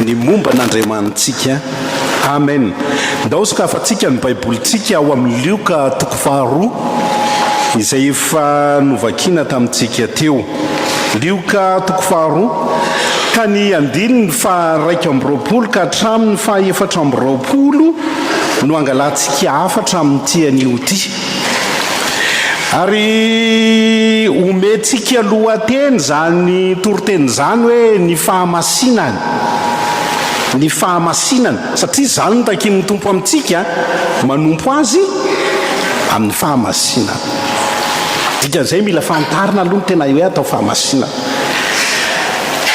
Ny momba an'Andriamanitsika. Amen. Ndao sokafantsika ny Baibolintsika ao amin'ny Lioka toko faharoa, izay efa novakiana tamintsika teo. Lioka toko faharoa, ka ny andininy faha-iraika amby roapolo ka hatramin'ny faha-efatra amby roapolo no angalantsika hafatra amin'ity anio ity. Ary omentsika lohateny izany toriteny izany hoe ny fahamasinany, ny fahamasinana, satria izany no takin'ny Tompo amintsika, manompo Azy amin'ny fahamasinana. Dikan'izay mila fantarina aloha ny tena hoe atao fahamasinana.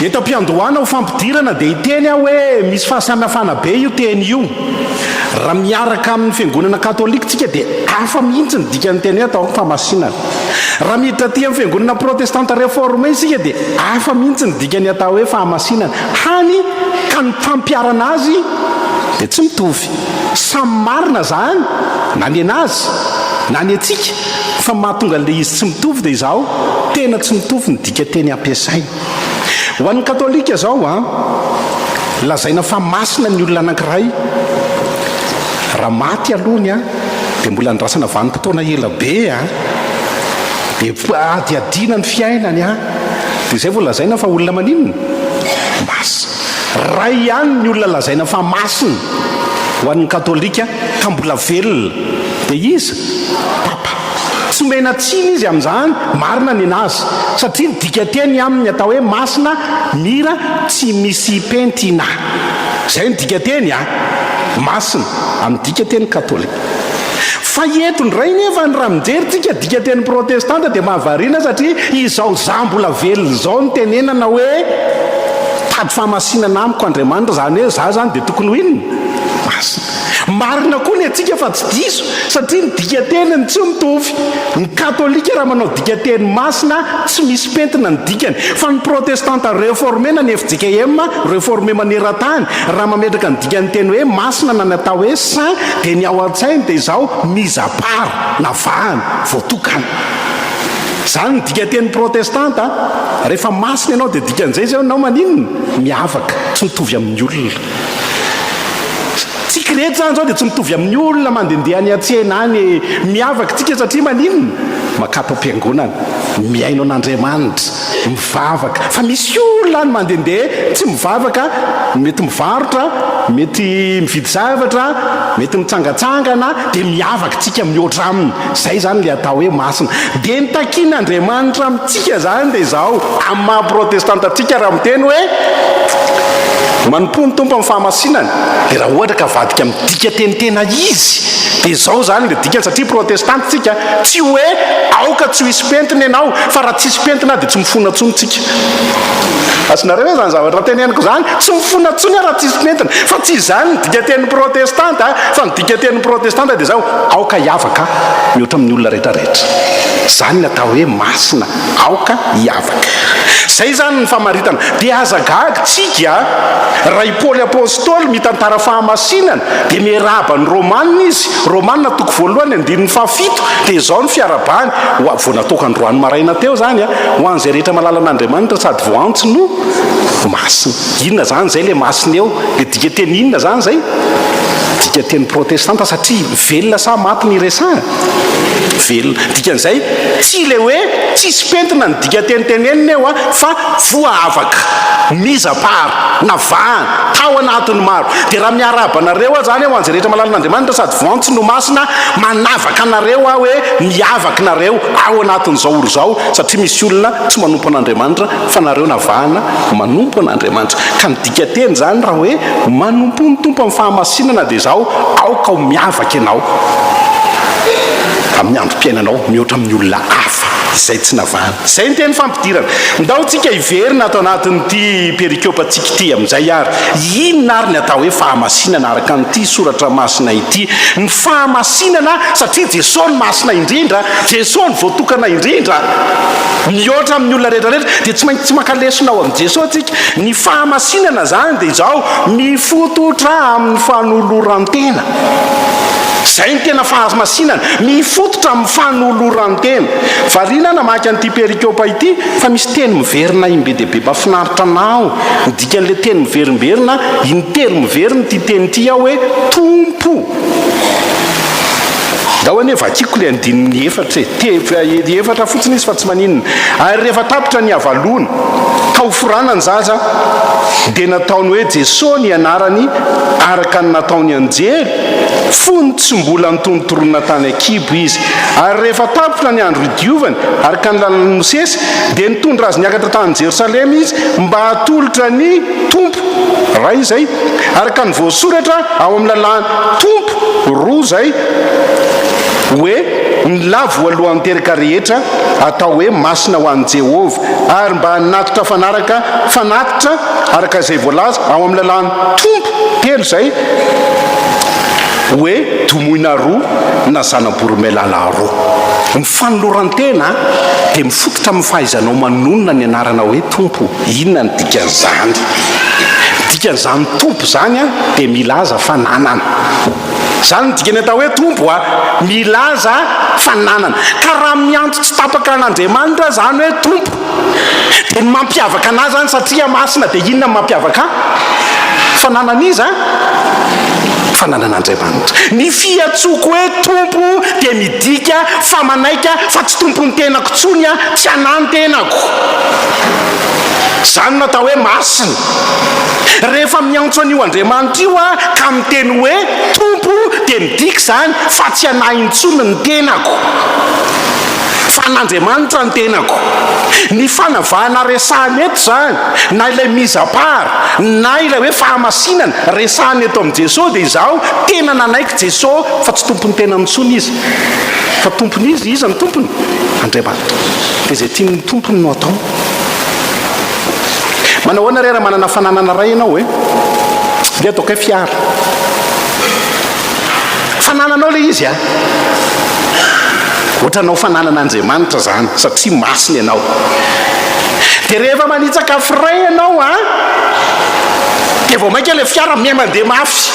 Eto am-piandohana ho fampidirana dia hiteny aho hoe misy fahasamihafana be io teny io. Raha miaraka amin'ny Fiangonana Katolika isika dia hafa mihitsy ny dikan'ny teny hoe atao hoe famasinana. Raha miditra aty amin'ny Fiangonana Protestanta Reforme isika dia hafa mihitsy ny dikan'ny atao hoe fahamasinana, hany ka ny fampiharana azy dia tsy mitovy. Samy marina izany na ny an'azy na ny antsika fa mahatonga an'ilay izy tsy mitovy dia izaho tena tsy mitovy ny dikanteny ampiasaina. Ho an'ny Katolika izao, lazaina fa masina ny olona anankiray raha maty aloha ny ahy dia mbola andrasana vanim-potoana ela be an, dia adihadiana ny fiainany an, dia izay vao lazaina fa olona maninona? Masina. Ray ihany ny olona lazaina fa masina ho an'ny Katolika ka mbola velona dia iza? Papa. Tsy omena tsiny izy amin'izany, marina ny anazy, satria ny dikanteny aminy atao hoe masina, mira, tsy misy pentina. Izay ny dikanteny a! Masina, amin'ny dikanteny katolika. Fa eto indray nefa ny raha mijery tsika dikanteny protestanta dia mahavariana satria izao za mbola velona izao ny tenenana hoe tady fahamasinana amiko Andriamanitra, izany hoe za izany dia tokony ho inona? Masina. Marina koa ny antsika fa tsy diso satria ny dikan-teniny tsy mitovy. Ny katolika raha manao dikan-teny masina tsy misy pentina ny dikany fa ny protestanta reforme na ny fjkm reforme maneran-tany raha mametraka ny dikan'ny teny hoe masina na ny atao hoe saint dia ny ao an-tsainy dia izao mise à part na vahana, voatokana. Izany ny dikan-teny protestanta rehefa masina ianao dia dikan'izay izao ianao maninona? Miavaka, tsy mitovy amin'ny olona. Tsika rehetra izany izao dia tsy mitovy amin'ny olona mandehandeha any an-tsena any e. Miavaka isika satria maninona? Makato am-piangonana, mihaino an'Andriamanitra, mivavaka. Fa misy olona any mandehandeha tsy mivavaka, mety mivarotra, mety mividy zavatra, mety mitsangatsangana, dia miavaka isika mihoatra aminy. Izay izany ilay atao hoe masina. Dia ny takian'Andriamanitra amintsika izany dia izao, amin'ny maha-protestanta antsika, raha miteny hoe, Manompoa ny Tompo amin'ny fahamasinany. Dia raha ohatra ka avadika amin'ny dikanteny tena izy, dia izao izany ilay dikany, satria protestanta isika, tsy hoe aoka tsy ho hisy pentina ianao, fa raha tsisy pentina dia tsy mifona intsony isika. Azonareo ve izany zavatra teneniko izany? Tsy mifona intsony aho raha tsisy pentina. Fa tsy izany ny dikantenin'ny protestanta, fa ny. Dikatenin'ny Protestanta dia izao, Aoka hiavaka mihoatra amin'ny olona rehetra rehetra. Izany no atao hoe masina, aoka hiavaka. Izay izany ny famaritana. Dia aza gaga tsika raha i Paoly Apostoly mitantara fahamasinana, dia miarahaba ny Romana izy, Romana toko voalohany andininy fahafito, dia izao no fiarabany, ho a, vao nataoko androany maraina teo izany, ho an'izay rehetra malala an'Andriamanitra sady voaantso no masina. Inona izany izay ilay masina eo? Dia dikanteny inona izany izay? Dikanteny protestanta satria velona sa maty ny resahana? Velona. Dikan'izay, tsy ilay hoe tsisy pentina ny dikanteny tenenina eo fa voaavaka, mise à part, navahana, tao anatin'ny maro. Dia raha miarahaba anareo aho izany hoe ho an'izay rehetra malalan' Andriamanitra sady voantso no masina, manavaka anareo aho hoe miavaka nareo ao anatin'izao or izao satria misy olona tsy manompo an'Andriamanitra, fa nareo navahana manompo an'Andriamanitra. Ka ny dikanteny izany raha hoe manompoa ny Tompo amin'ny fahamasinana dia izao, aoka ho miavaka ianao amin'ny androm-piainanao mihoatra amin'ny olona hafa izay tsy navahana. Izay ny teny fampidirana. Ndao tsika hiverina ato anatin'ity perikopantsika ity amin'izay ary inona ary ny atao hoe fahamasinana araka an'ity soratra masina ity. Fahamasinana satria Jesosy no masina indrindra, Jesosy no voatokana indrindra mihoatra amin'ny olona rehetra rehetra dia tsy maintsy tsy maka lesona ao amin'i Jesosy tsika. Ny fahamasinana zany dia izao, mifototra amin'ny fanoloran-tena. Zay ny tena fahamasinana, mifototra amin'ny fanoloran-tena. Variana namaky an'ity perikopa ity fa misy teny miverina im be dia be mafinaritra anao. Midika an'ilay teny miverimberina intelo miverina ity teny ity ao hoe Tompo. Pou! Ndao anie vakiko ilay andininy efatra e! Tebra efatra fotsiny izy fa tsy maninona. Ary rehefa tapitra ny havaloana, tao foranan-jaza, dia nataony hoe Jeso ny anarany araka ny nataon'ny anjely, fony tsy mbola nitonontorona tany an-kibo izy. Ary rehefa tapitra ny andro idiovany, araka ny lalan'i Mosesy, dia nitondra azy niakatra tany Jerosalema izy mba hatolotra ny Tompo. Raha izay, araka ny voasoratra, Ao amin'ny lalàn Tompo roa izay hoe ny lahy voalohan'ny teraka rehetra atao hoe masina ho an'i Jehovah, ary mba hanatitra fanaraka fanatitra araka izay voalaza ao amin'ny lalàn Tompo telo izay hoe domoina roa na zana-boromailala roa. Ny fanoloran-tena dia mifototra amin'ny fahaizanao manonona ny anarana hoe Tompo. Inona no dikan'izany? Ny dikan'izany Tompo izany a, dia milaza fa nanana. Izany no dikany atao hoe Tompo a, milaza fa nanana. Ka raha miantso tsy tapaka an'Andriamanitra izany hoe Tompo, dia ny mampiavaka an'Azy izany, satria masina, dia inona no mampiavaka Ahy? Fa nanan'iza? Fa nanan'Andriamanitra. Ny fiantsoako hoe Tompo dia. Midika fa manaiky aho fa tsy tompon'ny tenako intsony aho, tsy anà ny tenako. Izany no atao hoe masina. Rehefa miantso an'io Andriamanitra io aho ka miteny hoe Tompo dia midika izany fa tsy anà intsony ny tenako fa an'Andriamanitra ny tenako. Ny fanavahana resahana eto izany na ilay mise à part na ilay hoe fahamasinana resahana eto amin'i Jesoa dia izaho tena nanaiky Jesosy fa tsy tompon'ny tenany intsony izy fa tompony izy iza no tompony? Andriamanitra dia izay tian'ny tompony no ataony manao ahoana re raha manana fananana ray ianao e dia ataokay fiara fanananao le izy a ohatranao fananana andriamanitra zany satria masina ianao dia rehefa manitsaka firay ianao a dia vao mainka le fiara miha mandeha mafy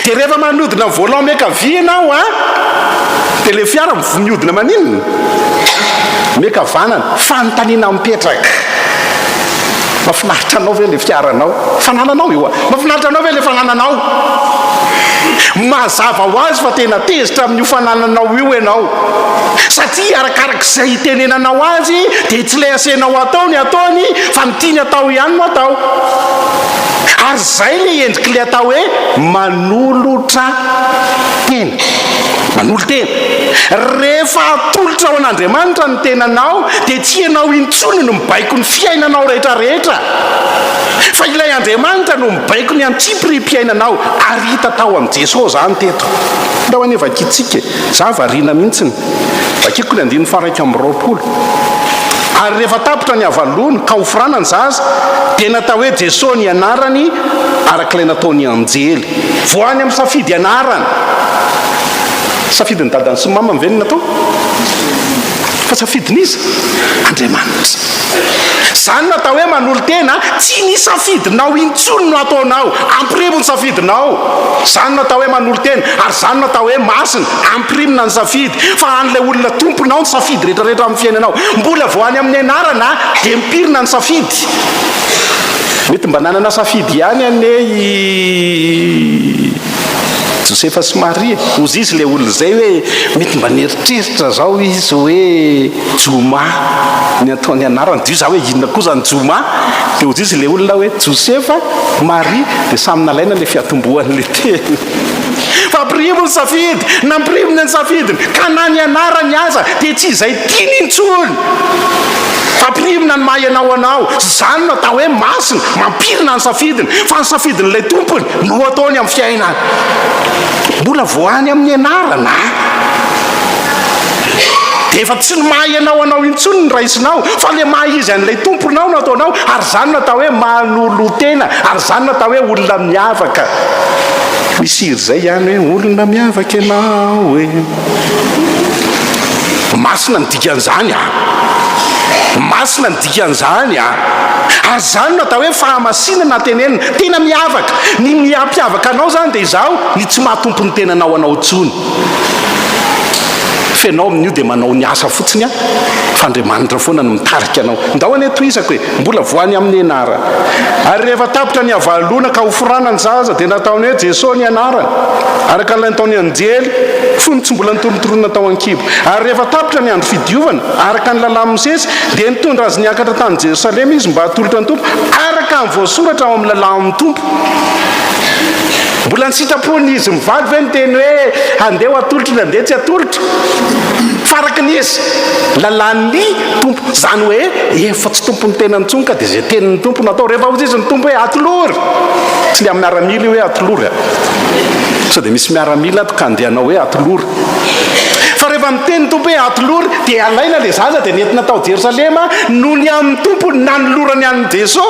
Dia rehefa manodina ny volant miankavia ianao an, dia ilay fiara miodina maninona? Miakavanana. Fanontaniana mipetraka, mahafinaritra anao ve ilay fiaranao, fanananao io an, mahafinaritra anao ve ilay fanananao? Mazava ho azy fa tena tezitra amin'io fanananao io ianao, satria arakarak'izay itenenanao azy dia tsy ilay asenao atao ny ataony fa ny Tiany atao ihany no atao. Ary izay ilay endrik'ilay atao hoe manolotra tena. Manolo-tena. Rehefa atolotra ho an'Andriamanitra ny tenanao dia tsy ianao intsony no mibaiko ny fiainanao rehetrarehetra fa ilay Andriamanitra no mibaiko ny antsipirihim-piainanao ary hita tao amin'i Jesoa izany teto. Ndao anie vakintsika e. Izaho variana mihitsy ny Vakiko ny andininy faharaika amby roapolo, Ary rehefa tapitra ny havaloany ka hofrana ny zaza, dia natao hoe Jeso ny anarany araka ilay nataon'ny anjely. Vao any amin'ny safidy anarana. Safidin'ny dadany sy ny mamany ve no natao? Fa safidin'iza? Andriamanitra. Izany no atao hoe manolo-tena, tsy ny safidinao intsony no ataonao, ampirivo ny safidinao. Izany no atao hoe manolo-tena, ary izany no atao hoe masina. Ampirimina ny safidy, fa an'ilay olona tomponao ny safidy rehetra rehetra amin'ny fiainanao. Mbola vao any amin'ny anarana dia mipirina ny safidy. Mety mba nanana safidy ihany anie i Josefa sy Maria. Hozy izy ilay olona izay hoe mety mba nieritreritra zao izy hoe Joma ny ataony anarany. Dio za hoe inona koa zany Joma. Dia hozy izy ilay olona hoe Josefa, Maria dia samy nalaina ilay fiatombohan'ilay teny. Fampirimo ny safidy, nampiriminy ny safidiny, ka na ny anarany aza dia tsy izay tiany intsony. Fampirimina ny maha ianao anao, izany no atao hoe masina, mampirina ny safidiny, fa ny safidin'ilay Tompony no ataony amin'ny fiainany. Mbola vao any amin'ny anarana dia efa tsy ny maha ianao anao intsony ny raisinao, fa ilay maha izy an'ilay Tomponao no ataonao, ary izany no atao hoe manolotena, ary izany no atao hoe olona miavaka. Misy hira izay ihany hoe olona miavaka ianao e. Masina ny dikan'izany a! Masina ny dikan'izany a! Ary izany no atao hoe fahamasinana tenenina. Tena miavaka. Ny mihampiavaka anao izany dia izaho ny tsy mahatompo ny tenanao anao intsony. Fa ianao amin'io dia manao ny asa fotsiny a! Fa Andriamanitra foana no mitarika anao. Ndao anie tohizako e! Mbola voany amin'ny enara. Ary rehefa tapitra ny havalona ka hoforana ny zaza dia nataony hoe Jeso ny anarany, araka ilay nataon'ny anjely fony tsy mbola nitorontorona tao an-kibo. Ary rehefa tapitra ny andro fidiovana, araka ny lalàn'i Mosesy, dia nitondra azy niakatra tany Jerosalema izy mba hatolotra ny Tompo, araka ny voasoratra ao amin'ny lalàn'ny Tompo. Mbola ny sitrapon'ny izy mivady ve niteny hoe handeha ho atolotro na handeha tsy atolotro? Faraky ny izy, lalàn'ny Tompo, izany hoe efa tsy tompon'ny tenany intsony ka dia izay tenin'ny Tompo no atao. Rehefa hoy izy ny Tompo hoe atolory, tsy ilay amin'ny miaramila io hoe atolory a, sao dia misy miaramila ato ka handeha hanao hoe atolory. Fa rehefa niteny ny Tompo hoe atolory dia alaina ilay zaza dia nentina tao Jerosalema noho ny amin'ny Tompo nanolorany an'i Jeso,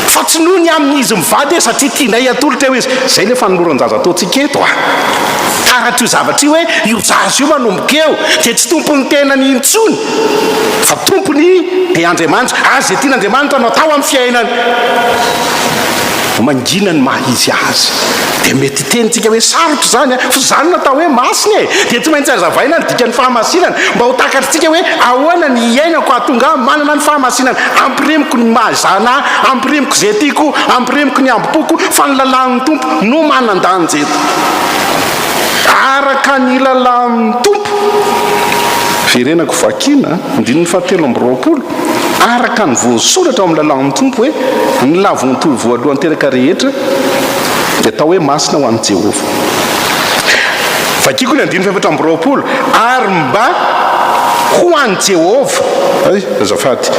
fa tsy noho ny amin'ny izy mivady hoe satria tianay atolotra eo izy. Izay ilay fanoloran-jaza ataontsika eto a. Taratr' io zavatra io hoe io zaza io manomboka eo dia tsy tompon' ny tenany intsony fa tompon' i Be Andriamanitra ary izay tian' Andriamanitra no atao amin' ny fiainany. Mangina ny maha izy azy. Dia mety hiteny isika hoe sarotra izany an! Fa izany no atao hoe masina e! Dia tsy maintsy hazavaina ny dikan' ny fahamasinana mba ho takatr'isika hoe ahoana ny hiainako hahatonga ahy manana ny fahamasinana ampirimiko ny maha izan' ahy, ampirimiko izay tiako, ampirimiko ny hambom-poko, fa ny lalàn' ny Tompo no manan-danja eto. Araka ny lalàn'ny Tompo. Verenako vakiana, andininy fahatelo amby roapolo, Araka ny voasoratra ao amin'ny lalàn'ny Tompo hoe, Ny lavontoa voalohany teraka rehetra dia atao hoe masina ho an'i Jehovah. Vakiko ny andininy fahefatra amby roapolo, Ary mba ho an'i Jehovah, hay, azafady,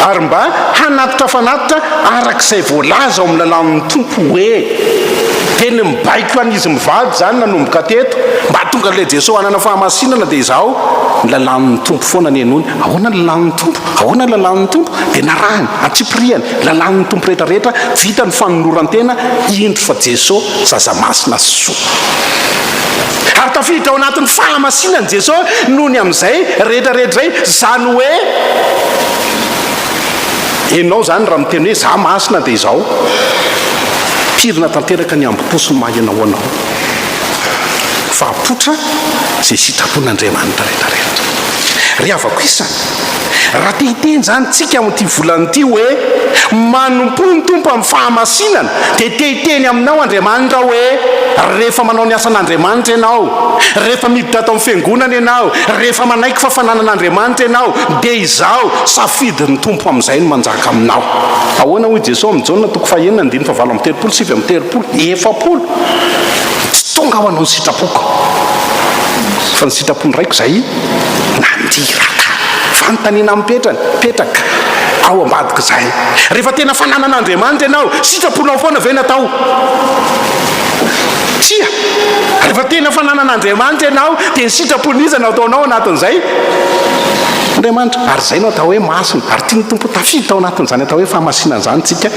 ary mba hanatitra fanatitra araka izay voalaza ao amin'ny lalàn'ny Tompo hoe. Teny mibaiko an izy mivady zany nanomboka teto mba tonga le Jeso hanana fahamasinana de izao ny lalàn ny Tompo foana nenony ahoana ny lalàn ny Tompo ahoana ny lalàn ny Tompo de narahany antsipiriany ny lalàn ny Tompo rehetra rehetra vita ny fanolorantena indro fa Jeso zaza masina sy soa ary tafiditra ao anatin ny fahamasinany Jeso nony am zay rehetra rehetra zay zany hoe Enao izany raha miteny hoe za masina dia izao. Pirina tanteraka ny hambo-po sy ny maha enao anao. Fa apoitra izay sitrapon'Andriamanitra rehetra rehetra. Ry havako isany, raha te hiteny izany tsika amin'ity volana ity hoe manompoa ny Tompo amin'ny fahamasinana dia te hiteny aminao Andriamanitra hoe rehefa manao ny asan'Andriamanitra ianao, rehefa miditra ato amin'ny fiangonana ianao, rehefa manaiky fa fananan'Andriamanitra ianao dia izao Safidin'ny Tompo amin'izay ny manjaka aminao. Ahoana hoy Jesoa amin'i Jaona toko fahenina andininy fahavalo amby telopolo, sivy amby telopolo, efapolo? Tsy tonga ho anao ny sitrapoko, fa ny sitrapon'ny Raiko izay naniraka. Fanontaniana mipetrany, mipetraka ao ambadik'izay. Rehefa tena fananan'Andriamanitra ianao, sitraponao foana ve no atao? Tsia. Rehefa tena fananan'Andriamanitra ianao, dia ny sitrapon'iza no ataonao anatin'izay? Tompon'Andriamanitra, ary izay no atao hoe masina, ary tian'ny Tompo ho tafiditra ao anatin'izany atao hoe fahamasinana izany isika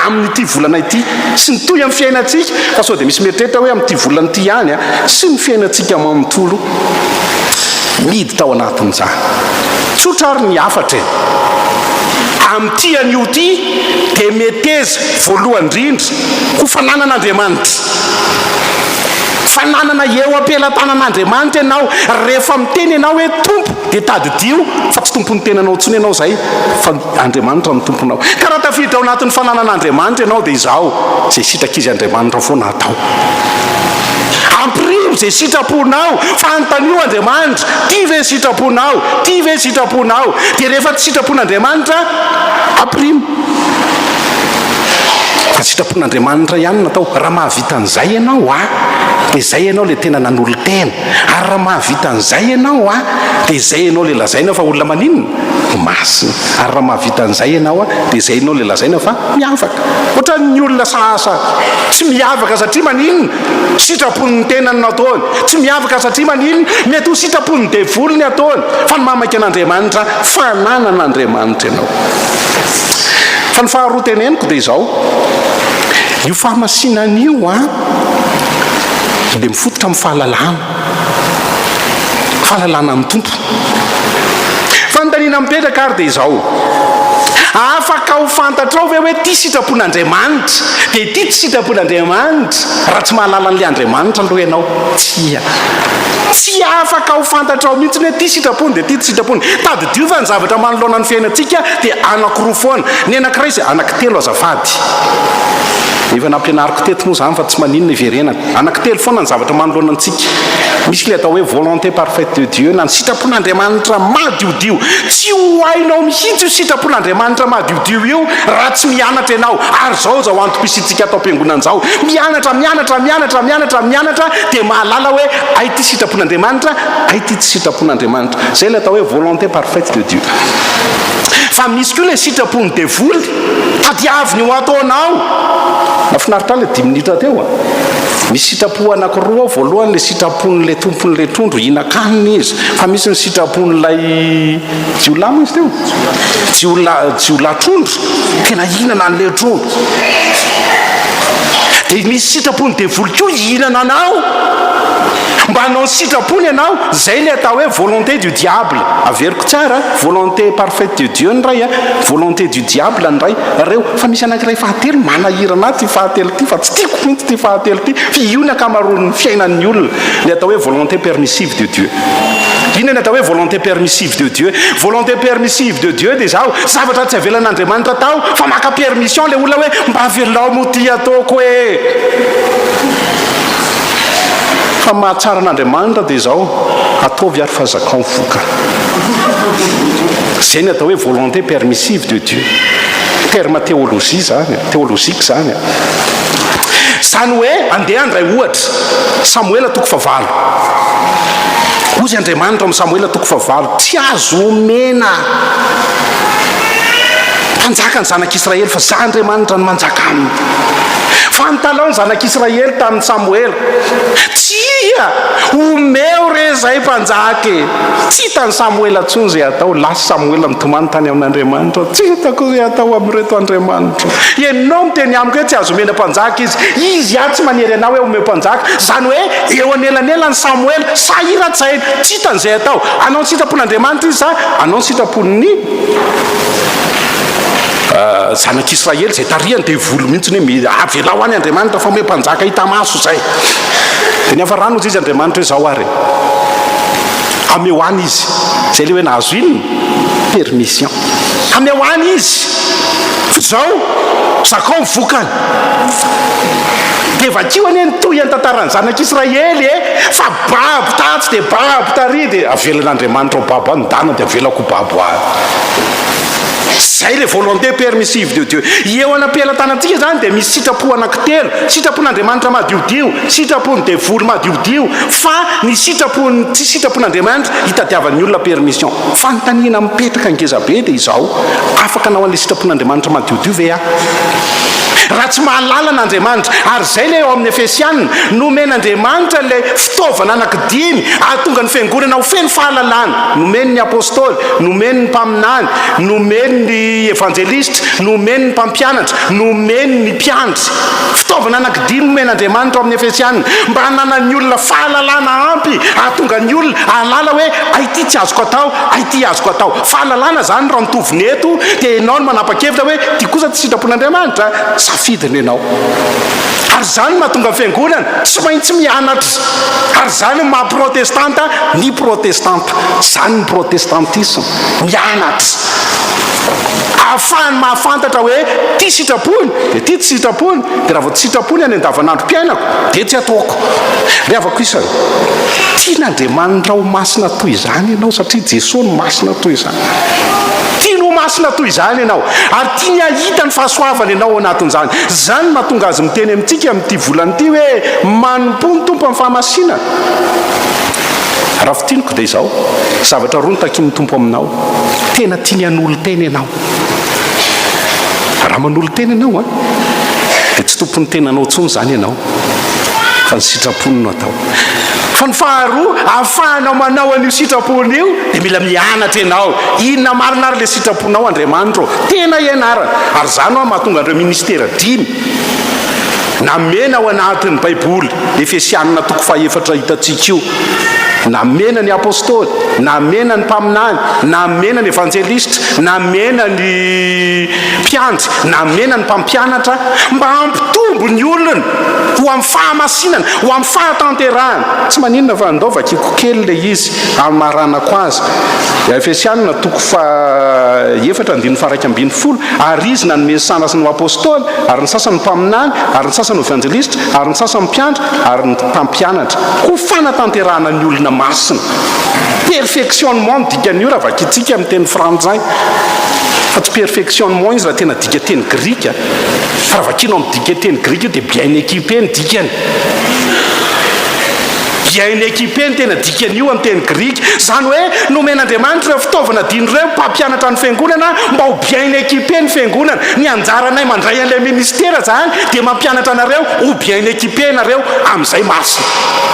amin'ity volana ity sy ny toy amin'ny fiainantsika, fa sao dia misy mieritreritra hoe amin'ity volana ity ihany sy ny fiainantsika manontolo miditra ao anatin'izany. Tsotra ary ny hafatra e! Amin'ity anio ity dia meteza voalohany indrindra ho fananan'Andriamanitra. Fananana eo am-pelatanan'Andriamanitra ianao rehefa miteny ianao hoe Tompo, Dia tadidio fa tsy tompon'ny tenanao intsony ianao izay fa Andriamanitra no tomponao. Ka raha tafiditra ao anatin'ny fananan'Andriamanitra ianao dia izao izay sitrak'izy Andriamanitra foana atao. Ampirivo izay sitraponao, fanontanio Andriamanitra, tia ve ny sitraponao, tia ve ny sitraponao. Dia rehefa tsy sitrapon'Andriamanitra, ampirimo. Fa sitrapon'Andriamanitra ihany no atao. Raha mahavita an'izay ianao, ah, dia izay ianao ilay tena nanolo-tena. Ary raha mahavita an'izay ianao a, dia izay ianao ilay lazaina fa olona maninona? Masina. Ary raha mahavita an'izay ianao a, dia izay ianao ilay lazaina fa miavaka. Ohatran'ny olona sasa tsy miavaka satria maninona? Sitrapon'ny tenany no ataony. Tsy miavaka satria maninona? Mety ho sitrapon'ny devoly ny ataony. Fa ny mahamaiky an'Andriamanitra, fananan'Andriamanitra ianao. Fa ny faharoa teneniko dia izao, io famasinana io a, dia mifototra amin'ny fahalalana, fahalalana amin'ny Tompo. Fanontaniana mipetraka ary dia izao, afaka ho fantatrao ve hoe ity sitrapon'Andriamanitra dia ity tsy sitrapon'Andriamanitra raha tsy mahalala an'ilay Andriamanitra aloha ianao? Tsia. Tsy afaka ho fantatrao mihitsy hoe ity sitrapony dia ity tsy sitrapony. Tadidio fa ny zavatra manoloana ny fiainantsika dia anakiroa foana. Ny anankiray izay, anaky telo azafady. Efa nampianariko teto moa izany fa tsy maninona iverenako. Anankitelo foana ny zavatra manoloana antsika. Misy ilay atao hoe volonté parfaite de Dieu na ny sitrapon'Andriamanitra madiodio. Tsy ho hainao mihitsy io sitrapon'Andriamanitra madiodio io raha tsy mianatra ianao. Ary izao izao antom-pisiantsika ato am-piangonana izao. Mianatra, mianatra, mianatra, mianatra, mianatra dia mahalala hoe hay ity sitrapon'Andriamanitra, hay ity tsy sitrapon'Andriamanitra. Izay ilay atao hoe volonté parfaite de Dieu. Fa misy koa ilay sitrapon'ny devoly. Tadiaviny ho ataonao. Nafinaritra le dimy minitra teo a. Misy sitrapo anakiroa ao, voalohany le sitrapon' le tompon' le trondro hihinan-kanina izy, fa misy ny sitrapon' lay jiolahy moa izy teo? Jiolahy, jiolahy trondro, tena hihinana an' le trondro. De misy sitrapon' ny devoly koa hihinana anao. Mba hanao ny sitrapony ianao, izay ilay atao hoe volonté du diable. Averiko tsara an, volonté parfaite de Dieu ny iray an, volonté du diable ny iray, ireo. Fa misy anankiray fahatelo manahirana ahy ity fahatelo ity fa tsy tiako mihitsy ity fahatelo ity, fa io ny ankamaroan'ny fiainan'ny olona, ilay atao hoe volonté permissive de Dieu. Inona ny atao hoe volonté permissive de Dieu? Volonté permissive de Dieu dia izao, zavatra tsy avelan'Andriamanitra atao fa maka permission ilay olona hoe mba avelao moa ity ataoko e! Fa ny mahatsara an'Andriamanitra dia izao, ataovy ary fa zakao ny vokany. Izay no atao hoe volonté permissive de Dieu. Terme théologie izany, théologique izany. Izany hoe, andeha handray ohatra, Samoela toko fahavalo. Hoy Andriamanitra amin'i Samoela toko fahavalo, tsy azo omena mpanjaka ny zanak'Israely fa izaho Andriamanitra no manjaka aminy. Fantalao ny zanak'Israely tamin'i Samoela, Tsia, omeo re izay mpanjaka e! Tsy hitan'i Samoela intsony izay hatao. Lasa i Samoela nitomany tany amin'Andriamanitra, Tsy hitako izay hatao amin'ireto andriamanitro. Ianao miteny amiko hoe tsy azo omena mpanjaka izy. Izy ihany tsy manery anao hoe omeo mpanjaka. Izany hoe eo anelanelan'i Samoela, sahiran-tsaina, tsy hitany izay hatao. Hanao ny sitrapon'Andriamanitra izy sa hanao ny sitrapon'ny. zanak'Israely izay tarihany devoly mihitsy hoe mi- avelao any Andriamanitra fa omeo mpanjaka hita maso izay. Dia nihafarana hozy izy Andriamanitra hoe izao ary e. Hameo any izy. Izay ilay hoe nahazo inona? Permission. Hameo any izy. Fa izao, zakao ny vokany. Dia vakio anie ny tohin'ny tantaran'ny zanak'Israely e. Fa babo tatsy dia babo tary dia avelan'Andriamanitra ho babo any, ny dana dia avelako ho babo any. Izay le volonté permissive de Dieu. Eo anam-pelatanantsika izany dia misy sitrapo anankitelo, sitrapon'Andriamanitra madiodio, sitrapon'ny devoly madiodio, fa ny sitrapon'ny tsy sitrapon'Andriamanitra hitadiavan'ny olona permission. Fanontaniana mipetraka ngeza be dia izao, afaka anao an'ilay sitrapon'Andriamanitra madiodio ve aho? Raha tsy mahalala an'Andriamanitra, ary izay ilay ao amin'ny Efesiana, nomen'Andriamanitra ilay fitaovana anankidimy ahatonga ny fiangonana ho feno fahalalana, nomen'ny Apostoly, Nomeny ny mpaminany, nomeny ny evanjelistra, nomeny ny mpampianatra, nomeny ny mpiandry. Fitaovana anankidimy nomen'Andriamanitra ao amin'ny Efesiana, mba hananan'ny olona fahalalana ampy hahatonga ny olona hahalala hoe hay ity tsy azoko atao, hay ity azoko atao. Fahalalana izany raha mitovina eto dia ianao no manapa-kevitra hoe ity kosa tsy sitrapon'Andriamanitra, safidiny ianao. Ary izany no mahatonga ny fiangonana tsy maintsy mianatra. Ary izany no maha protestanta ny protestanta. Izany ny protestantisme, mianatra. Ahafahany mahafantatra hoe ity sitrapony, dia ity tsy sitrapony, dia raha vao tsy sitrapony any andavanandrom-piainako, dia tsy ataoko. Ry havako isany, tian'Andriamanitra ho masina toy izany ianao satria Jesoa no masina toy izany. Tiany ho masina toy izany ianao, ary tiany hahita ny fahasoavany ianao ao anatin'izany. Izany no mahatonga Azy miteny amintsika amin'ity volana ity hoe, Manompoa ny Tompo amin'ny fahamasinana. Raha fintiniko dia izao, zavatra roa no takian'ny Tompo aminao. Tena tiany hanolo-tena ianao. Raha manolo-tena ianao, dia tsy tompon'ny tenanao intsony izany ianao, fa ny sitrapony no atao. Fa ny faharoa, ahafahanao manao an'io sitrapony io, dia mila mianatra ianao. Inona marina ary ilay sitraponao, Andriamanitro ô? Tena ianarana. Ary izany ho'a mahatonga an'ireo ministera dimy Namena ao anatin'ny Baiboly, Efesianina toko fahaefatra hitantsika io. Namena ny apostoly, namena ny mpaminany, namena ny evanjelistra, namena ny mpiandry, namena ny mpampianatra mba hampitombo ny olony ho amin'ny fahamasinana, ho amin'ny fahatanterahana. Tsy maninona fa andao vakiko kely ilay izy hamaranako azy. Efesianina toko fahaefatra andininy faha iraika ambin'ny folo. Ary Izy nanome ny sanasany ho Apôstôly, ary ny sasany ho mpaminany, ary ny sasany ho evanjelistra, ary ny sasany mpiandry, ary ny mpampianatra, ho fanatanterahana ny olona masina. Perfectionnement no dikan'io raha vakintsika amin'ny teny frantsay, fa tsy perfectionnement izy raha tena dika teny grika. Fa raha vakinao amin'ny dika teny grika io dia bien équipé ny dikany. Dia en equipe no tena dikan'io amin'ny teny grika. Izany hoe nomen'Andriamanitra ireo fitaovana adino ireo ny mpampianatra ny fiangonana mba ho bien en equipe ny fiangonana. Ny anjaranay mandray an'ilay ministera izany dia mampianatra anareo ho bien en equipe ianareo amin'izay marina.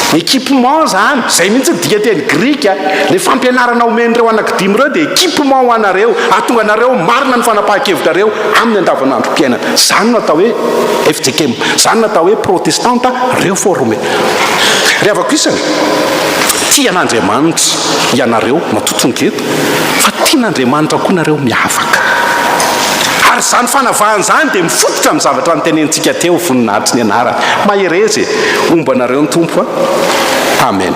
Equipement izany, izay mihitsy ny dikan-teny grika. Ilay fampianarana omen'ireo anaky dimy ireo dia equipement ho anareo, hahatonga anareo ho marina ny fanapahan-kevitrareo amin'ny andavanandrom-piainana. Zany no atao hoe FJKM. Zany no atao hoe protestanta reforme. Ry havako isany, tia an'Andriamanitra ianareo matoky ny geta, fa tian'Andriamanitra koa nareo miavaka. Ary zany fanavahana zany dia mifototra amin'ny zavatra notenenintsika teo, voninahitry ny anarany. Mahereza e! Homba anareo ny Tompo a! Amen.